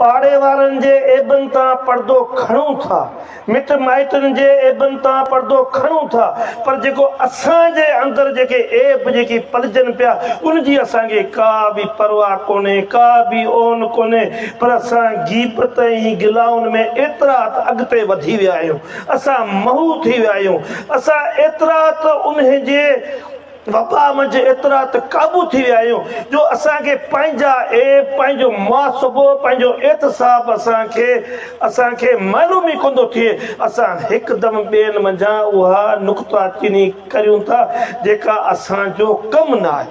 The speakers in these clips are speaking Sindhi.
پاڙي وارن جي عيبن تان پردو کڻون ٿا، مٽ مائٽن جي عيبن تان پردو کڻون ٿا، پر جيڪو اسان جي اندر جيڪي عيب جيڪي پلجن پيا، ان جي اسان کي ڪا به پرواهه ڪونهي، ڪا به اون ڪونهي، پر اسان غيبت ۽ گلائن ۾ ايترا ته اڳتي وڌي ويا آهيون، اسان محو ٿي ويا آهيون، اسان ايترا ته انهي جي. وبا منجهه ايترا ته قابو ٿي ويا آهيون جو اسان کي پنهنجا عيب، پنهنجو محاسبو، پنهنجو احتساب اسان کي اسان کي معلوم ئي ڪوندو ٿئي. اسان هڪدم ٻين منجهان اها نقطه چيني ڪريون ٿا جيڪا اسان جو ڪم نه آهي.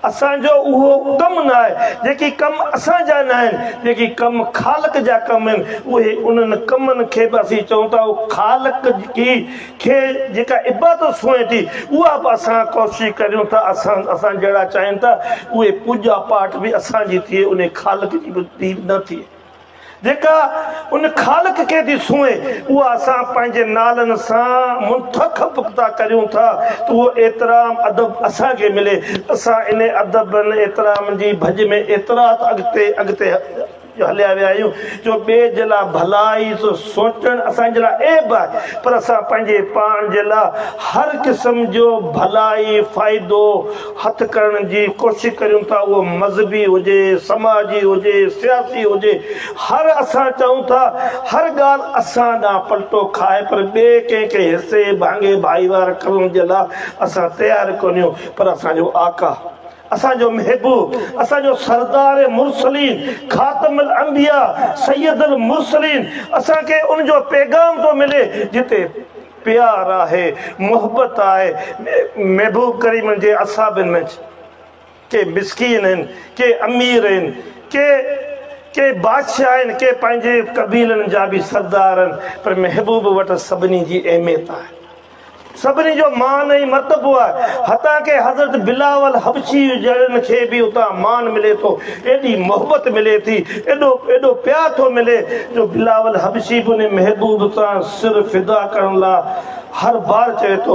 اسان جو اهو ڪم نه آهي. جيڪي ڪم اسان جا نه آهن، جيڪي ڪم خالق جا ڪم آهن اهي انهن ڪمن کي به اسين چئون ٿا اهو خالق جي کي جيڪا عبادت سونهين ٿي اها به اسان ڪوشش ڪريون ٿا اسان اسان جهڙا چاهين ٿا اهي پوڄا پاٺ به اسان جي ٿئي ان خالق جي به ديد نه ٿئي جيڪا ان خالق کي ٿي سونهي اها اسان پنهنجي نالن سان منتخب ٿا ڪريون ٿا ته اهو احترام ادب اسان کي ملي اسان ان ادب احترام جي ڀڄ ۾ ايترا ته اڳتي اڳتي جو هليا ويا آهيون جو ٻئي جي لاء ڀلائي سو سوچڻ اسان جي لاء عيب آهي پر اسان پنهنجي پاڻ جي لاء هر قسم جو ڀلائي فائدو هٿ ڪرڻ جي ڪوشش ڪريون ٿا اهو مذهبي هجي سماجي هجي سياسي هجي هر اسان چاهون ٿا هر ڳالهه اسان ڏانهن پلٽو کائي پر ٻئي ڪنهن کي حصي ڀاڱي ڀائيوار ڪرڻ جي لاء اسان تيار ڪونهيون پر اسان جو آقا اسان جو محبوب، اسان جو سردار مرسلين، خاتم الانبياء، سيد المرسلين، اسان کي ان جو پيغام ٿو ملي جتي پيار آهي، محبت آهي، محبوب ڪريم جي اصحابن منجھ ڪي مسڪين آهن، ڪي امير آهن، ڪي ڪي بادشاهه آهن، ڪي پنهنجي قبيلن جا به سردار آهن، پر محبوب وٽ سڀني جي اهميت آهي. سڀني جو مان ۽ مرتبو آهي، حتيٰ ڪي حضرت بلاول حبشي جهڙن کي به اتان مان ملي ٿو، ايڏي محبت ملي ٿي، ايڏو ايڏو پيار ٿو ملي جو بلاول حبشي به انهي محبوب سان سر فدا ڪرڻ لاء هر بار چوي ٿو.